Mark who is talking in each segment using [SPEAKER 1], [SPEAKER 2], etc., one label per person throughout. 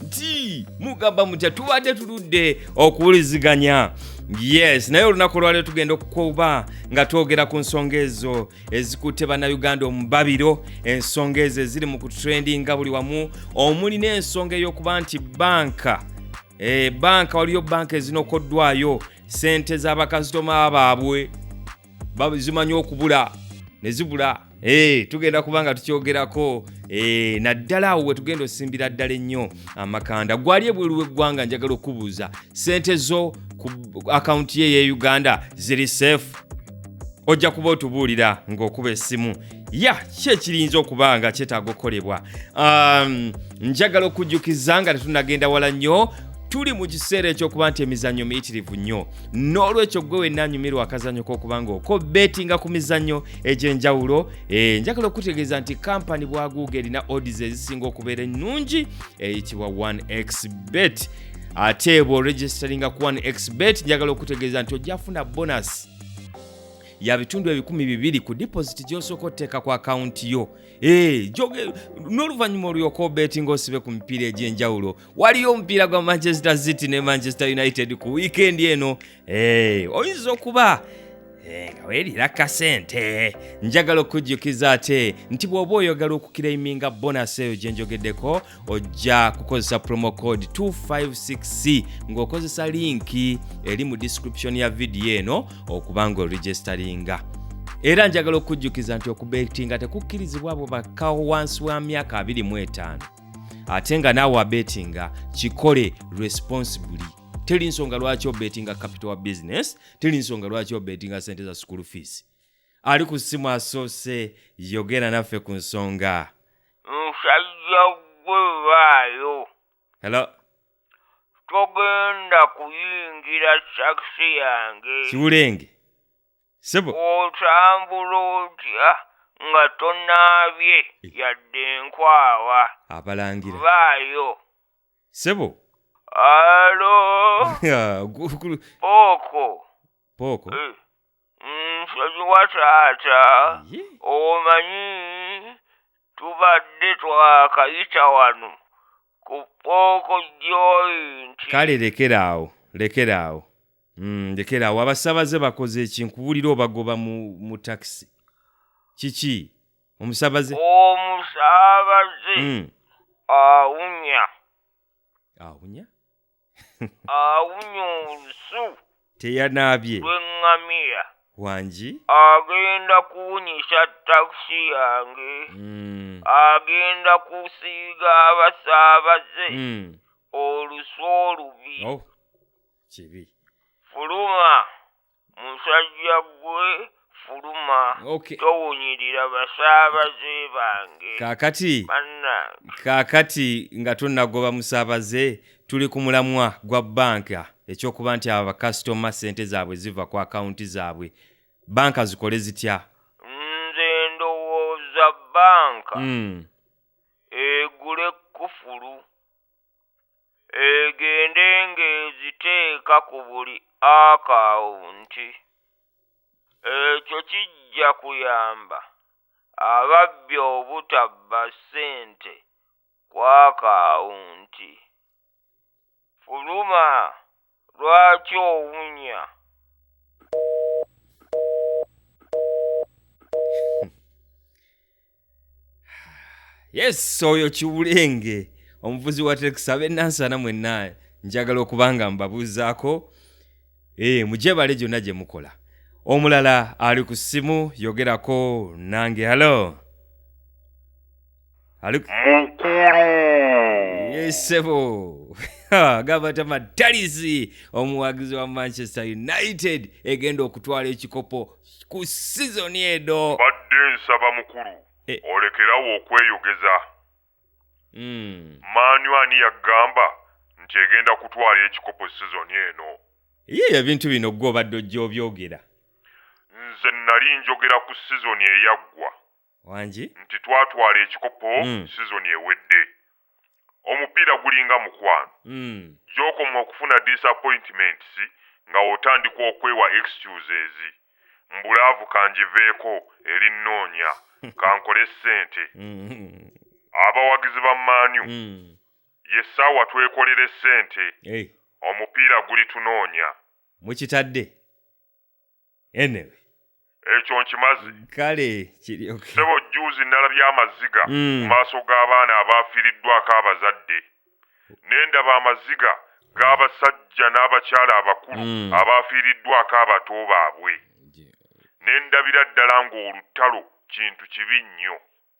[SPEAKER 1] nti mugamba mutya tubadde tuludde okuwuliziganya yes naye olunaku olwaliro tugenda okukuba nga twogera ku nsonga ezo ezikutte bannayuganda omubabiro ensonga ezo eziri mu kutrendinga buli wamu omuli n'ensonga ey'okuba nti banka e, banka waliyo banka ezinokoddwayo sente z'abakasitoma baabwe bazimanyi okubula ne zibula Hey, eh, tugenda kuba nga tukyogerako hey, eh, naddala awo wetugenda osimbira ddala ennyo amakanda gwali ebweru weggwanga njagala okubuuza sente zo ku akawunti ye ye uganda ziri safe ojja kuba otubuulira ng'okuba essimu ya ki ekirinza okuba nga kyetaaga okukolebwa um, njagala okujjukiza nga tetunagenda wala nnyo tuli mu kiseera ekyokuba nti emizannyo miyitirivu nnyo n'olwekyo gwe wenna anyumirwa akazannyo k'okuba ng'okobeetinga ku mizannyo egy'enjawulo eh, njagala okutegeeza nti kampani bwaguuga erina odis ezisinga okubeera ennungi eyitibwa 1x bet ate bworegisteringa ku 1x bet njagala okutegeeza nti ojjafuna bonasi ya bitundu ebikumi bibiri ku deposit gyosooka oteeka ku akawunti yo eh, n'oluvannyuma olyoka obeti ngaosibe ku mipiira egy'enjawulo waliyo omupiira gwa manchester city ne manchester united ku wiikendi eno Eh, oyinza okuba eh, nga weerira kasente njagala okujjukiza ate nti bw'oba oyogala okukiraiminga bonasi eyo gye njogeddeko ojja kukozesa promo code 256c ng'okozesa linki eri mu description ya vidiyo eno okuba nga oregisteringa era njagala okujjukiza nti okubetinga tekukkirizibwa abo bakkawo wansi wa myaka 25 ate nga naawe abetinga kikole responsibly teri nsonga lwaki obetinga capital wa business teri nsonga lwaki obetinga sente za school fees ali ku simu asoose yogera naffe ku nsonga musajja
[SPEAKER 2] gwewaayo hello
[SPEAKER 1] togenda
[SPEAKER 2] kuyingira sakisi yange kiwulenge
[SPEAKER 1] sebo otambula
[SPEAKER 2] otya nga tonaabye eh. yadde enkwawa abalangira
[SPEAKER 1] baayo
[SPEAKER 2] sebo
[SPEAKER 1] alo
[SPEAKER 2] Ya, gu- gu- pooko pooko Eh, nsonyiwa taata Ye. omanyi tubadde twakayita wano ku pooko joint kale lekera
[SPEAKER 1] awo lekera awo Mm, lekera awo abasabaze bakoze eki nkuwulira obagoba mu, mu takisi kiki omusabaze omusabaze
[SPEAKER 2] Mm. awunya awunya awunya olusu teyanaabye
[SPEAKER 1] lw'eŋŋamiya
[SPEAKER 2] wangi
[SPEAKER 1] agenda
[SPEAKER 2] kuwunyisa takisi yange Mm. agenda kusiiga abasaabaze Mm. olusu olubi Oh, kibi
[SPEAKER 1] fuluma
[SPEAKER 2] musajja gwe fuluma Okay. towunyirira basaabaze bange kaakati bannange
[SPEAKER 1] kaakati nga tonnagoba musaabaze tuli ku mulamwa gwa banka ekyokuba nti abo bakasitoma ssente zaabwe ziva ku akawunti zaabwe banka zikole zitya nze
[SPEAKER 2] ndowooza banka Mm. egule kufulu egende ng'eziteeka ku buli akawunti ekyo kijja kuyamba ababbi obutabba ssente ku akawunti. Fuluma Lwaki owunya?
[SPEAKER 1] yes oyo kiwulenge omuvuzi wa tekisi abenansana mwenna njagala okuba nga mbabuuzaako ee eh, mugyebale gyonna gye mukola omulala ali ku ssimu yogerako nange halo ali ku- mukulu yesebo agamba nti amatalizi omuwagizi wa manchester united egenda okutwala ekikopo ku sizoni eno badde nsaba
[SPEAKER 3] mukulu Eh. olekerawo okweyogeza Mm. maanyu ani yagamba nti egenda kutwala ekikopo sizoni eno ye ebintu
[SPEAKER 1] bino gwe obadde ojja obyogera nze
[SPEAKER 3] nali njogera ku sizoni eyaggwa wangi
[SPEAKER 1] nti twatwala
[SPEAKER 3] ekikopo mm. sizoni ewedde omupiira gulinga mukwano mm. gyokoma okufuna disappointments nga otandika okwewa excuses mbulaavu kangiveeko eri nnoonya kankole ssente mm-hmm. abawagizi ba maanyu mm. ye ssaawa twekolere ssente omupiira guli tunoonya mukitadde
[SPEAKER 1] anyway
[SPEAKER 3] ekyo nkimazi kale
[SPEAKER 1] kiryoke sebo juuzi nalabye
[SPEAKER 3] amaziga mu mm. maaso g'abaana abaafiiriddwako abazadde ne ndaba amaziga g'abasajja n'abakyala abakulu mm. abaafiiriddwako abato baabwe ne ndabira ddala ng'olutalo kintu kibi nnyo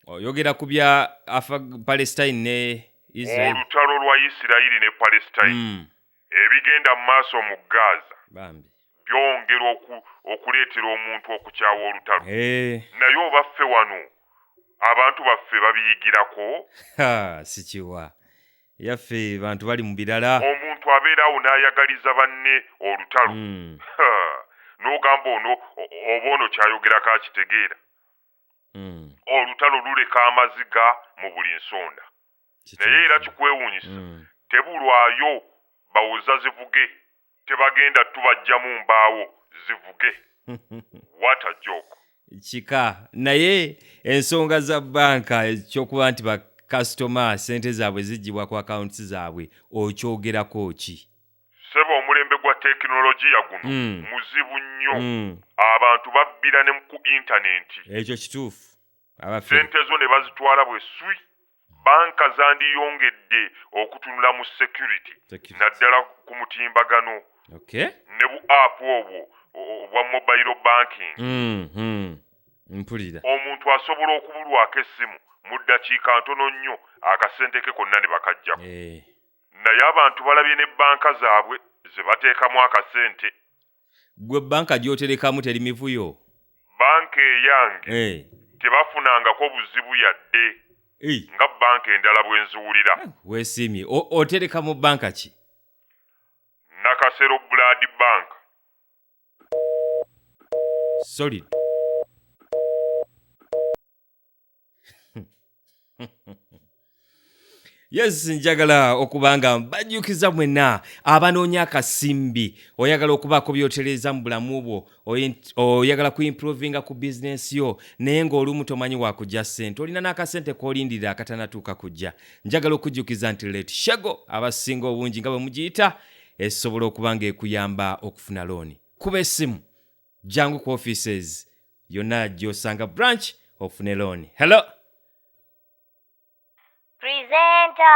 [SPEAKER 3] oyogera ku bya
[SPEAKER 1] afa palestine ne olutalo lwa isirayiri
[SPEAKER 3] ne palestine mm. ebigenda mu maaso mu gaza bambi
[SPEAKER 1] byongera
[SPEAKER 3] okuleetera omuntu okukyawa olutalo eh. naye oba ffe wano abantu baffe babiyigirako sikiwa
[SPEAKER 1] yaffe bantu bali mu birala omuntu abeeraawo
[SPEAKER 3] n'ayagaliza banne olutalo hmm. n'ogamba ono oba ono kyayogerako akitegeera hmm. olutalo luleka amaziga mu buli nsonda naye era kikwewuunyisa hmm. tebulwayo bawoza zivuge tebagenda tubajjamu mbaawo zivuge what a joke kika
[SPEAKER 1] naye ensonga za banka ekyokuba nti bakasitoma sente zaabwe zigibwa ku akawunti zaabwe okyogerako ki sebo omulembe
[SPEAKER 3] gwa tekinologiya guno mm. muzibu nnyo mm. abantu babbira ne ku intanenti ekyo kituufu
[SPEAKER 1] sente zo
[SPEAKER 3] ne bazitwala bwe swi banka zandiyongedde okutunula mu security naddala ku mutimbagano okay.
[SPEAKER 1] ne bu app
[SPEAKER 3] obwo obwa mobile banking mm, mm.
[SPEAKER 1] mpulira omuntu
[SPEAKER 3] asobola okubulwako essimu mu ddakiika ntono nnyo akasente ke konna ne bakajjako hey. Eh. naye abantu balabye ne banka zaabwe zebateekamu akasente. Gwe
[SPEAKER 1] banka gyoterekamu teri mivuyo? Banka
[SPEAKER 3] eyange eh. tebafunangako buzibu yadde eh. nga banka endala bwenziwulira. Eh, wesiimye.
[SPEAKER 1] Otereka mu banka ki? Nakasero
[SPEAKER 3] Blood Bank.
[SPEAKER 1] Solid. yes njagala okuba nga mbajjukiza mwenna abanoonya akasimbi oyagala okubaako byotereeza mu bulamu bwo oyagala kuimprovinga ku bizinensi yo naye ng'olumu tomanyi wakujja ssente olina n'akasente k'olindirira akatanatuuka kujja njagala okujjukiza nti let shago abasinga obungi nga bwe mugiyita esobola okuba ng'ekuyamba okufuna looni kuba essimu jangu ku offices yonna gy'osanga branch ofune looni hello
[SPEAKER 4] presenta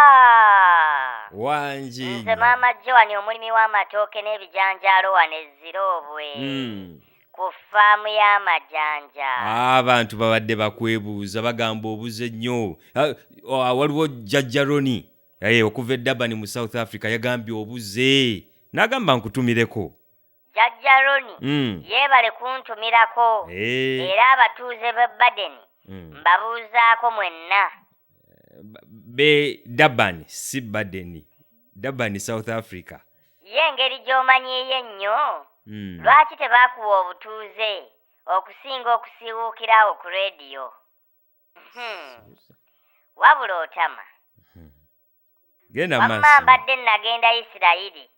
[SPEAKER 1] wangi nze maama
[SPEAKER 4] joani omulimi w'amatooke n'ebijanjaalo wano eziroobwe hmm. ku faamu y'amajanja ah, abantu
[SPEAKER 1] babadde bakwebuuza bagamba obuze nnyo ah, ah, waliwo jajja roni eh, okuva eddabani mu south africa yagambye obuze n'agamba nkutumireko Jajja
[SPEAKER 4] Ronnie Mm. yeebale kuntumirako Eh, era abatuuze b'e Badeni mm. mbabuuzaako mwenna. Ba-
[SPEAKER 1] be Durban si Baden. Durban South Africa. Ye engeri
[SPEAKER 4] gy'omanyiiyo ennyo, Mm. lwaki tebaakuwa obutuuze okusinga okusiiwuukira awo ku leediyo? Hmm, Wabula otama.
[SPEAKER 1] Genda Wamma maaso. mbadde nagenda
[SPEAKER 4] Isirayiri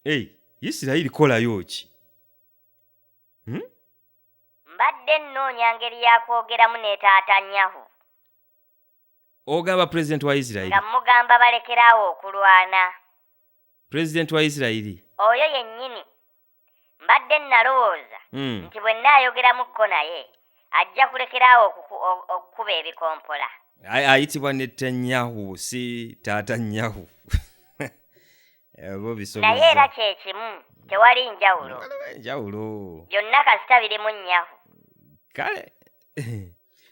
[SPEAKER 4] ei isirayiri
[SPEAKER 1] kolayo ki hmm?
[SPEAKER 4] mbadde nnoonya ngeri yakwogeramu ne taata nyahu ogamba
[SPEAKER 1] pulezidenti wa isirayiri nga mugamba
[SPEAKER 4] balekeraawo okulwana
[SPEAKER 1] pulezidenti wa isirayiri oyo yennyini
[SPEAKER 4] mbadde nnalowooza hmm. nti bwe nnaayogeramukko naye ajja kulekeraawo okukuba ebikompola ayitibwa
[SPEAKER 1] ne tanyahu si taata nyahu
[SPEAKER 4] naye era kyekimu tewali njawulo njawulo
[SPEAKER 1] byonna kasita
[SPEAKER 4] birimu nyahu kale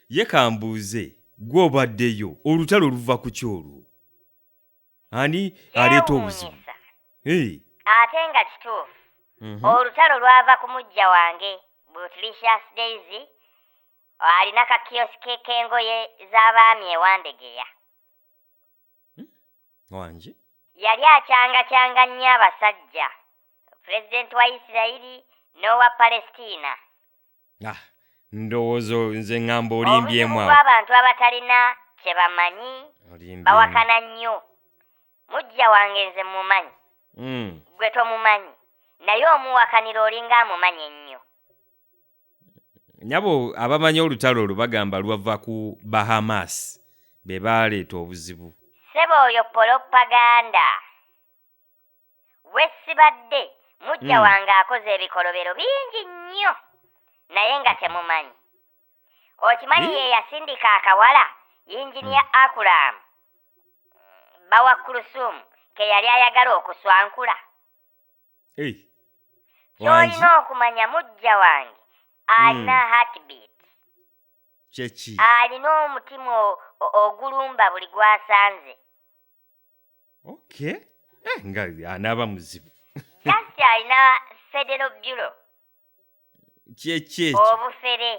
[SPEAKER 1] ye kambuuze gw'obaddeyo olutalo oluva ku kyolwo ani aleeta obuzibu
[SPEAKER 4] ate nga kituufu mhm. olutalo lwava ku mujja wange butlicious daisy alina kakiyosike k'engoye z'abaami ewandegeya hmm?
[SPEAKER 1] wangi yali
[SPEAKER 4] akyangakyanga nnyo abasajja pulezidenti wa isirayiri n'owa palestina ah,
[SPEAKER 1] ndowooza nze ŋŋamba olimbyemu awo abantu abatalina
[SPEAKER 4] kye bamanyi bawakana nnyo mujja wange nze mumanyi hmm. gwe tomumanyi naye omuwakanira olinga amumanyi ennyo nyabo
[SPEAKER 1] abamanyi olutalo olwo bagamba lwava ku bahamas be baaleeta obuzibu sebo
[SPEAKER 4] oyo polopaganda wesibadde mujja hmm. wange akoze ebikolobero bingi nnyo naye nga temumanyi okimanyi ye yasindika akawala yinginiya hmm. akulamu bawa kulusumu keyali ayagala okuswankula kyolina okumanya mujja wange alina hmm. heartbeat
[SPEAKER 1] alina
[SPEAKER 4] omutima ogulumba buli gwasanze
[SPEAKER 1] okay eh, nga anaaba muzibu kati alina
[SPEAKER 4] federo bulo
[SPEAKER 1] kyekyekyo obufere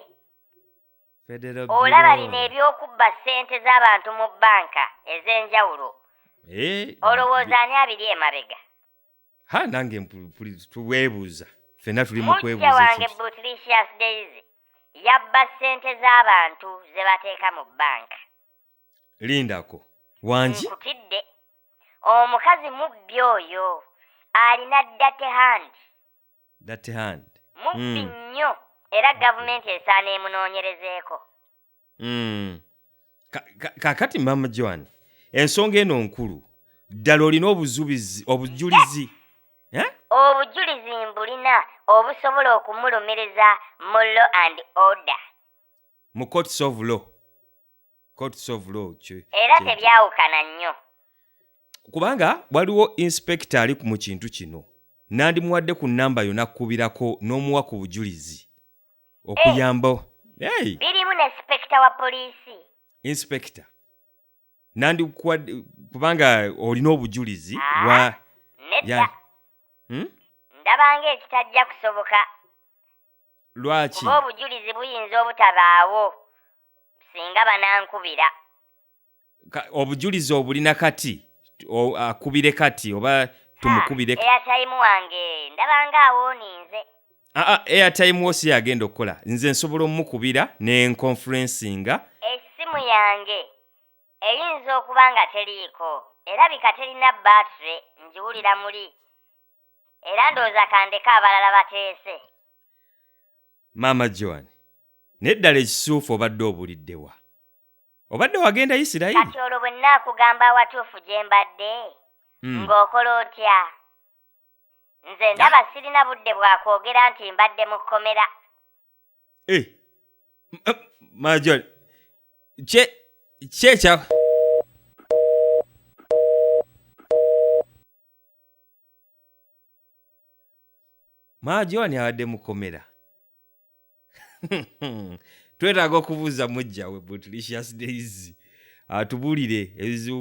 [SPEAKER 1] federo olaba bino ebyokubba
[SPEAKER 4] ssente z'abantu mu bbanka ez'enjawulo eh, olowooza ani abiri emabega ha nange
[SPEAKER 1] tuweebuuza fenna tuli mukwebuuza mujja wange butlicious
[SPEAKER 4] daisy yabba ssente z'abantu ze bateeka mu bbanka lindako
[SPEAKER 1] wangi nkutidde
[SPEAKER 4] omukazi mubbi oyo alina date hand that hand mubbi Mm. nnyo era gavumenti esaana emunoonyerezeeko Mm.
[SPEAKER 1] Ka- ka- kakati mama joan ensonga eno nkulu ddala olina obuzubizi obujulizi Eh?
[SPEAKER 4] obujulizi mbulina obusobola okumulumiriza mu law and order mu
[SPEAKER 1] courts of law courts of law
[SPEAKER 4] era tebyawukana nnyo kubanga
[SPEAKER 1] waliwo inspector ali mu kintu kino nandimuwadde ku namba yo nakkubirako n'omuwa ku bujulizi okuyamba eh,
[SPEAKER 4] birimu ne inspector wa poliisi inspector
[SPEAKER 1] nandikuwadde kubanga olina obujulizi ah, wa nedda
[SPEAKER 4] hmm? ndabanga ekitajja kusoboka
[SPEAKER 1] lwaki oba obujulizi
[SPEAKER 4] buyinza obutabaawo singa banankubira
[SPEAKER 1] obujulizi obulina kati akubire kati oba tumukubire ah, airtime wange
[SPEAKER 4] ndabanga awoninze aa ah, ah,
[SPEAKER 1] airtime wo si yagenda okukola nze nsobola omukubira ne nconferencinga essimu
[SPEAKER 4] yange eyinza okuba nga teriiko erabika terina battery ngiwulira muli era ndowooza kandeka abalala bateese
[SPEAKER 1] maama joan naye ddala ekisuufu obadde obulidde wa obadde wagenda isirayiri kati olwo bwe nnaakugamba
[SPEAKER 4] awatuufu gye mbadde hmm. ng'okola otya nze ndaba sirina budde bwa kwogera nti mbadde mu kkomera eh,
[SPEAKER 1] majol kye kyekya maajo ani abadde mukomera twetaaga okubuuza mujjawe butlicious days atubuulire ebizibu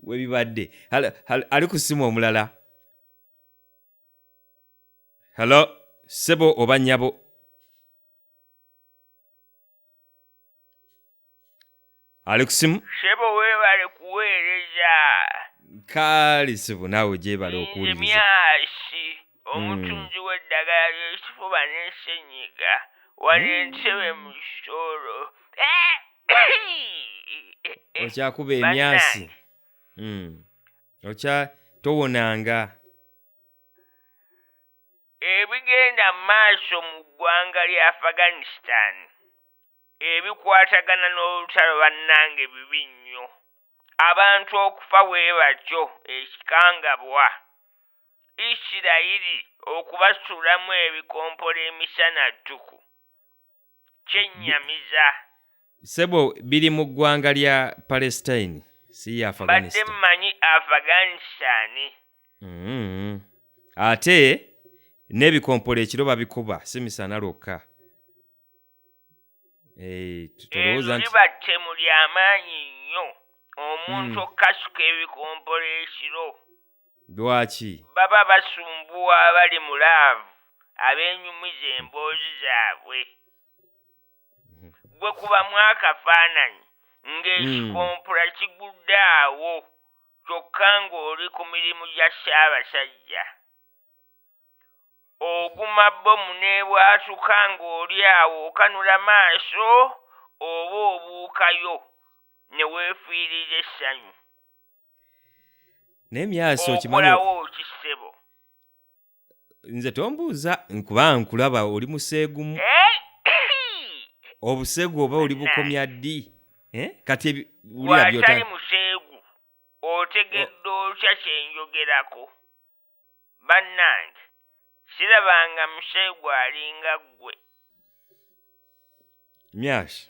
[SPEAKER 1] webibadde ali ku simu omulala hello sebo oba nyabo ali ku simu sebo webale
[SPEAKER 2] kuweereza
[SPEAKER 1] kaali sibu naawe gyebale okuwuliriza myasi
[SPEAKER 2] omutunzi w'eddagala ly'ekifuba n'ensenyiga wano entebe mu kisoro okyakuba
[SPEAKER 1] emyasi Mm. okya towonanga
[SPEAKER 2] Ebigenda maaso mu ggwanga lya Afghanistan ebikwatagana n'olutalo bannange bibi nnyo, abantu okufa bwebatyo ekikangabwa, Isirayiri okubasuulamu ebikompolo emisana ttuku, kyennyamiza sebo
[SPEAKER 1] biri mu ggwanga lya palestine si ya mbadde afghanistan mmanyi
[SPEAKER 2] afghanistan Mm.
[SPEAKER 1] ate n'ebikompola ekiro babikuba si misana lwokka Eh, tu- tulowooza eryo nti liba ttemu ly'amaanyi
[SPEAKER 2] nnyo omuntu Mm. okukasuka ebikompola ekiro Lwaki?
[SPEAKER 1] Baba
[SPEAKER 2] basumbuwa abali mu laavu abeenyumiza emboozi zaabwe. Ggwe kubamu akafaananyi ng'ekikompula kigudde awo kyokka ng'oli ku mirimu gya Ssaabasajja. Oguma bbomu n'ebwatuka ng'oli awo okanula maaso oba obuukayo ne weefiiriza essanyu. naye
[SPEAKER 1] myasi okimanyikolawo ki ssebo nze tombuuza nkuba nkulaba oli museegumu eh? obusegu
[SPEAKER 2] oba oli
[SPEAKER 1] bukomya ddi eh? kati wulira
[SPEAKER 2] byotali
[SPEAKER 1] museegu
[SPEAKER 2] otegedde otya kyenjogerako bannange sirabanga musheegu alinga ggwe.
[SPEAKER 1] Myash,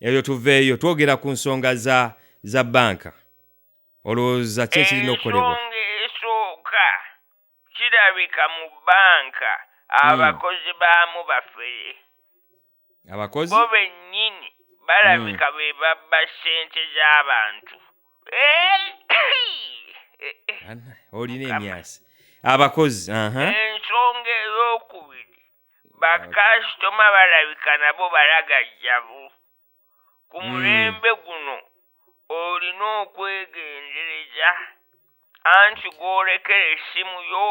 [SPEAKER 1] ebyo tuveeyo twogera ku nsonga za za bbanka. Olowooza ki ekirina okukolebwa? Ensonga esooka
[SPEAKER 2] kirabika mu bbanka abakozi baamu bafere.
[SPEAKER 1] abakozi bo bennyini
[SPEAKER 2] balabika be babba ssente z'abantu Eh,
[SPEAKER 1] Ana- olina Mukama. emyasi abakozi aha ensonga
[SPEAKER 2] ey'okubiri bakasitoma balabika nabo balagajjavu ku Mm. mulembe guno olina okwegendereza anti gw'olekera essimu yo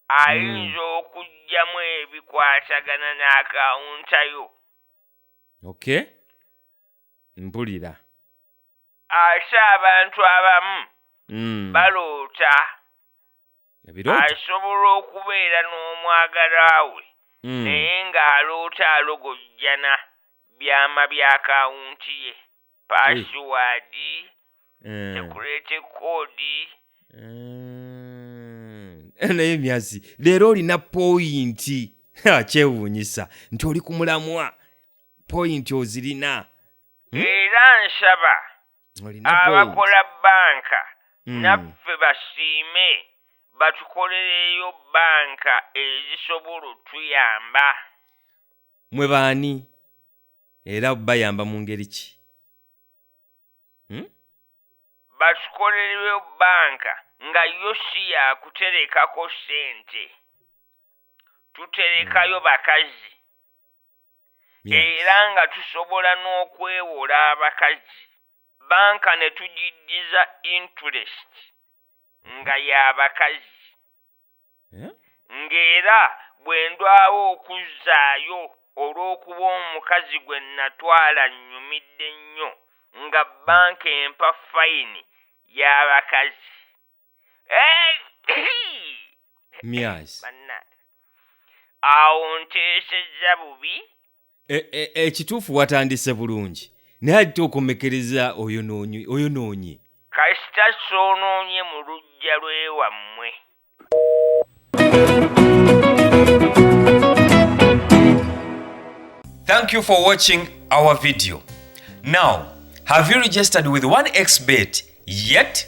[SPEAKER 2] ayinza hmm. okujjamu ebikwatagana n'akawunta yo ok
[SPEAKER 1] mpulira
[SPEAKER 2] ate abantu abamu hmm. baloota
[SPEAKER 1] asobola
[SPEAKER 2] okubeera n'omwagala we hmm. naye ng'aloota alogojjana byama by'akawunti ye pasiwadi Eh, sekurete kodi
[SPEAKER 1] eh, naye myazi leero olina poyinti Ha, kyewuunyisa nti oli ku mulamwa poyinti ozirina era
[SPEAKER 2] nsaba olina point. abakola banka Mm. naffe basiime batukolereyo banka ezisobola otuyamba
[SPEAKER 1] mwe baani era bayamba mu ngeri ki hmm?
[SPEAKER 2] batukolereyo banka nga yo si yakuterekako sente tuterekayo hmm. bakazi era nga tusobola n'okwewola abakazi banka ne tugiddiza interest nga y'abakazi Eh? ng'era bwe ndwawo okuzzaayo olw'okuba omukazi gwe natwala nnyumidde nnyo nga bbanka empa fayini y'abakazi Eh,
[SPEAKER 1] myazi bannange
[SPEAKER 2] awo nteesezza bubi
[SPEAKER 1] ekituufu e, e, watandise bulungi naye alite okomekereza oyonoonyi oyonoonyi kasita
[SPEAKER 2] soonoonye mu lujja lwewammwe
[SPEAKER 1] thank you for watching our video now have you registered with 1xbet yet